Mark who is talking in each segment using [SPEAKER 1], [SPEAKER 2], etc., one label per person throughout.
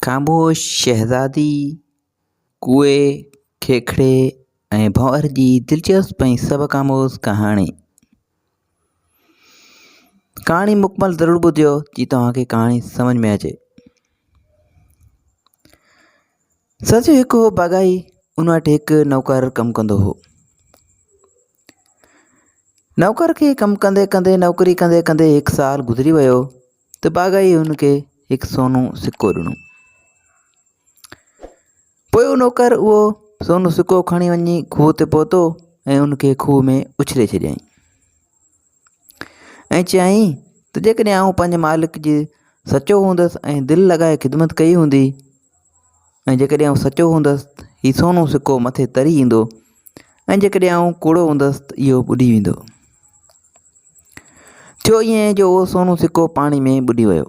[SPEAKER 1] خاموش شهزادي ڪوئي، کيکڙي ۽ ڀونئر جي دلچسپ ۽ سبق آموز ڪهاڻي. ڪهاڻي مڪمل ضرور ٻڌيو جي توهان کي ڪهاڻي سمجھ ۾ اچي. سچ هڪ هو باغائي ان وٽ هڪ نوڪر ڪم ڪندو هو نوڪر کي ڪم ڪندي ڪندي نوڪري ڪندي ڪندي هڪ سال گذري ويو ته باغائيء هن کي هڪ سونو سڪو ڏنو. پوء اهو نوڪر اهو سونو سڪو کڻي وڃي کوهه تي پهتو ۽ ان کي کوهه ۾ اڇلي ڇڏيائين ۽ چيائين ته جيڪڏهن آئون پنهنجي مالڪ جي سچو هوندس ۽ دل لڳائي خدمت ڪئي هوندي ۽ جيڪڏهن آئون سچو هوندس ته هي سونو سڪو مٿي تري ايندو ۽ جيڪڏهن آئون ڪوڙو هوندس ته اهو ٻڏي ويندو. ٿيو ائين جو اهو سونو سڪو پاڻي ۾ ٻڏي ويو.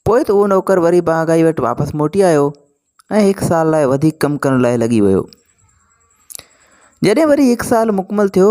[SPEAKER 1] پوء ته اهو نوڪر وري باغائي وٽ واپس موٽي آيو ۽ هڪ سال لاء وڌيڪ ڪم ڪرڻ لاء لڳي ويو. جڏهن وري هڪ سال مڪمل ٿيو،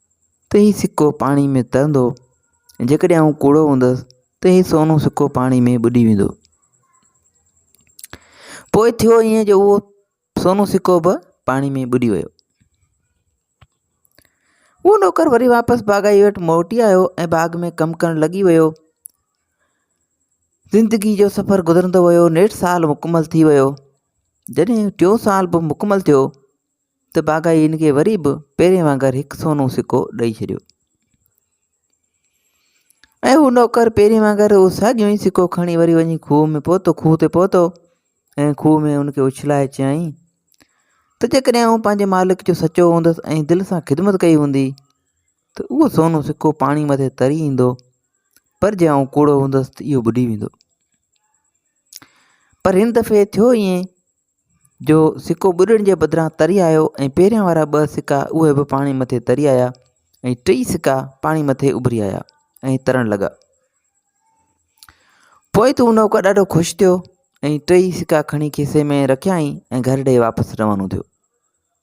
[SPEAKER 1] ته هي سڪو پاڻي ۾ ترندو ۽ جيڪڏهن آئون ڪوڙو هوندس ته هي سونو سڪو پاڻي ۾ ٻڏي ويندو. پوء ٿيو ائين جو اهو سونو سڪو به پاڻي ۾ ٻڏي ويو. اهو نوڪر وري واپس باغائي وٽ موٽي آيو ۽ باغ ۾ ڪم ڪرڻ لڳي ويو. زندگي جو سفر گذرندو ويو نيٺ سال مڪمل ٿي ويو. جڏهن ٽيون سال به مڪمل ٿيو ته باغائي هن کي وري به پهرين وانگر هڪ سونو سڪو ڏئي ڇڏيو ۽ هو نوڪر پهرين وانگر اهو ساڳيو ئي سڪو کڻي وري وڃي کوهه ۾ پهتو کوهه تي پهتو ۽ کوهه ۾ هن کي اڇلائي چيائين ته جيڪڏهن آئون پنهنجي مالڪ جو سچو هوندس ۽ دل سان خدمت ڪئي هوندي ته اهو سونو سڪو پاڻي مٿي تري ايندو پر جي آئون ڪوڙو هوندس ته اهو ٻڏي ويندو پر هن دفعي ٿيو ائين جو سڪو ٻڏڻ جي بدران تري آيو ۽ پهريان وارا ٻه سڪا اهي به پاڻي مٿي تري آيا ۽ ٽئي سڪا پاڻي مٿي اڀري آيا ۽ ترڻ لڳا. پوء تون نوڪر ڏاڍو خوش ٿيو ۽ ٽئي سڪا کڻي کيسي ۾ رکيائين ۽ گهر ڏي واپس روانو ٿيو.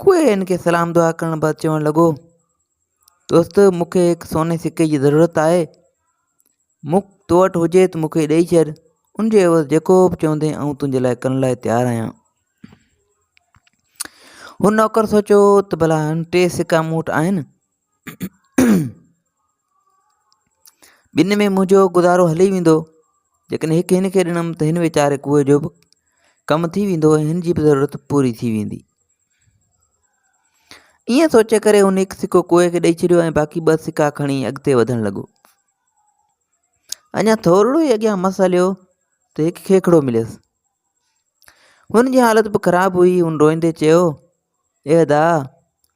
[SPEAKER 1] کوء هن کي سلام دعا ڪرڻ بعد چوڻ لڳو، دوست مون کي هڪ سوني سڪي جي ضرورت آهي، مون تو وٽ هجي ته مون کي ڏئي ڇڏ، ان جي عيوض جيڪو به چوندين آئون تنهنجي لاء ڪرڻ لاء تيار آهيان. هن نوڪر سوچيو ته ڀلا هن ٽي سڪا مون وٽ آهن، ٻنهي ۾ منهنجو گذارو هلي ويندو جيڪڏهن هڪ هن کي ڏنم ته هن ويچاري ڪوئي جو به ڪم ٿي ويندو ۽ هن جي به ضرورت پوري ٿي ويندي ائين سوچي ڪري هن هڪ سڪو ڪوئي کي ڏئي ڇڏيو ۽ باقي ٻه سڪا کڻي اڳتي وڌڻ لڳو اڃا ٿورڙو ئي اڳيان مس هليو ته هڪ کيکڙو مليس هن جي حالت به خراب هئي هن روئندي چيو اي ادا!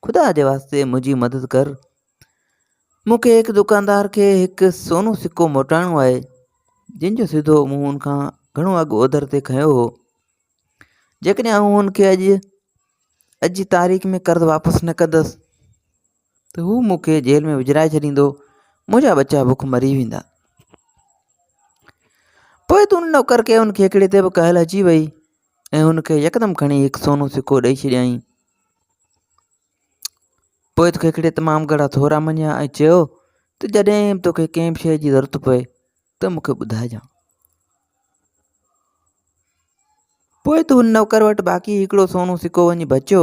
[SPEAKER 1] خدا جي واسطي منهنجي مدد ڪر. مون کي هڪ دڪاندار کي هڪ سونو سڪو موٽائڻو آهي، جنهن جو سڌو مون هن کان گهڻو اڳ اوڌر تي کنيو هو. جيڪڏهن آئون هن کي اڄ، اڄ جي تاريخ ۾ قرض واپس نه ڪندس، ته هو مون کي جيل ۾ وجهرائي ڇڏيندو، منهنجا ٻچا بک مري ويندا. پوء تون ان نوڪر کي ان کيکڙي تي به ڪهل اچي ويئي. ۽ هن کي يڪدم کڻي هڪ سونو سڪو ڏئي ڇڏيائين. پوء کيکڙي تمام گهڻا ٿورا مڃيا ۽ چيو ته جڏهن به توکي ڪنهن به شيء جي ضرورت پوي ته مون کي ٻڌائجان. پوء ته هن نوڪر وٽ باقي هڪڙو سونو سڪو وڃي بچيو.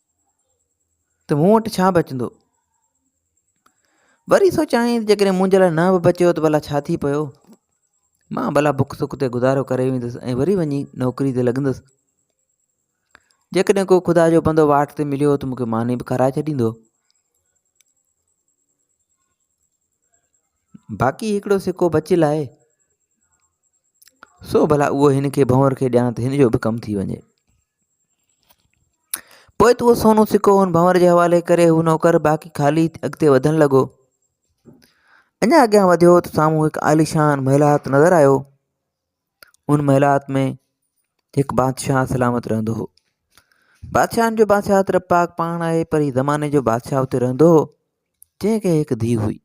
[SPEAKER 1] ته مون وٽ ڇا بچندو؟ وري سوچيائين ته جيڪڏهن منهنجي لاء نه به بچيو ته ڀلا ڇا ٿي پيو؟ مان ڀلا بک سک تي گذارو ڪري ويندس ۽ وري وڃي نوڪري تي لڳندس. جيڪڏهن ڪو خدا جو بندو واٽ تي مليو ته مون کي ماني به کارائي ڇڏيندو. باقي هڪڙو سڪو بچيل آهي، سو ڀلا اهو هن کي ڀنور کي ڏيان ته هن جو به ڪم ٿي وڃي. پوء ته اهو سونو سڪو هن ڀنور جي حوالي ڪري هو نوڪر باقي خالي اڳتي وڌڻ لڳو. اڃا اڳيان وڌيو ته سامهون هڪ عاليشان محلات نظر آيو. ان محلات ۾ هڪ بادشاهه سلامت رهندو هو. بادشاهن جو بادشاهه رب پاڪ پاڻ آهي پر هي زماني جو بادشاهه اتي رهندو هو جنهن کي هڪ ڌي هئي.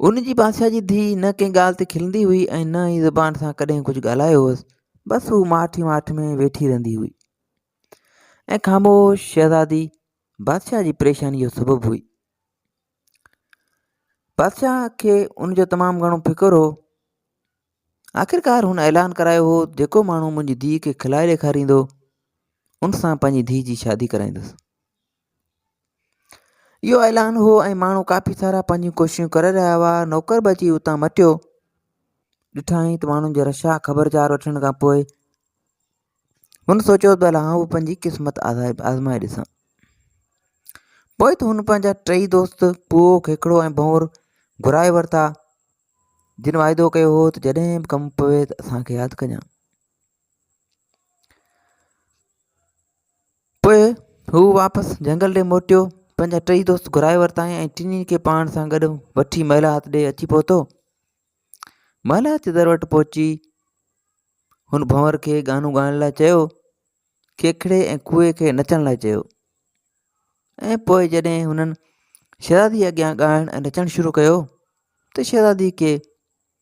[SPEAKER 1] ان جي بادشاهه جي ڌيء نه ڪنهن ڳالهه تي کلندي هئي ۽ نه ئي زبان سان ڪڏهن ڪجهه ڳالهايو هوس بس هو ماٺ ئي ماٺ ۾ ويٺي رهندي هئي ۽ خاموش شهزادي بادشاهه جي پريشاني جو سبب هئي بادشاهه کي ان جو تمام گهڻو فڪر هو آخرڪار هن اعلان ڪرايو هو جيڪو ماڻهو منهنجي ڌيء کي کلائي ڏيکاريندو ان سان پنهنجي ڌيء جي شادي ڪرائيندس اهو اعلان هو ۽ ماڻهو ڪافي سارا پنهنجيون ڪوششون ڪري رهيا هئا نوڪر به اچي اتان مٽيو ڏٺائين ته ماڻهن جو رش آهي خبرچار وٺڻ کان پوء هن سوچيو ته الا هو پنهنجي قسمت آزمائي ڏسان پوء ته هن پنهنجا ٽئي دوست پوء کيکڙو ۽ ڀنور گهرائي ورتا جن واعدو ڪيو هو ته جڏهن به ڪم پوي ته اسان کي ياد ڪجان پوء هو واپس جهنگل ڏي موٽيو، پنهنجا ٽئي دوست گهرائي ورتائين ۽ ٽنهي کي پاڻ سان گڏ وٺي مهلا هٿ ڏي اچي پهتو. مهلا هٿ جي در وٽ پهچي هن ڀنور کي ڳانو ڳائڻ لاء چيو، کيکڙي ۽ کوهي کي نچڻ لاء چيو ۽ پوء جڏهن هنن شهزادي اڳيان ڳائڻ ۽ نچڻ شروع ڪيو ته شهزادي کي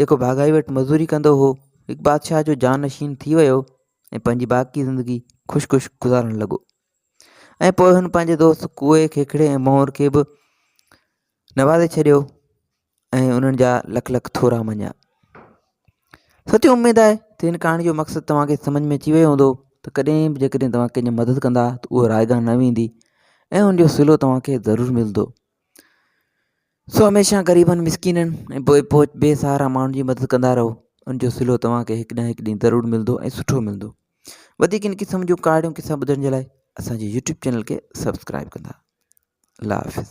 [SPEAKER 1] جيڪو ڀاڳائي وٽ مزوري ڪندو هو، هڪ بادشاهه جو جانشين ٿي ويو ۽ پنهنجي باقي زندگي خوش خوش گذارڻ لڳو ۽ پوء هن پنهنجي دوست ڪوئي، کيکڙي ۽ مهور کي به نوازي ڇڏيو ۽ انهن جا لک لک ٿورا مڃيا. سچي اميد آهي ته هن ڪهاڻي جو مقصد توهان کي سمجھ ۾ اچي ويو هوندو ته ڪڏهن به جيڪڏهن توهان ڪنهن جي مدد ڪندا ته اهو رائگان نه ويندي ۽ ان جو صلو توهان کي ضرور ملندو. سو هميشه غريبن مسڪينن ۽ بي پهچ بي سهارا ماڻهن جي مدد ڪندا رهو ان جو سلو توهان کي هڪ نه هڪ ڏينهن ضرور ملندو ۽ سٺو ملندو وڌيڪ ان قسم جون ڪهاڙيون قصا ٻڌڻ جي لاء اسان جي يوٽيوب چينل کي سبسڪرائب ڪندا الله حافظ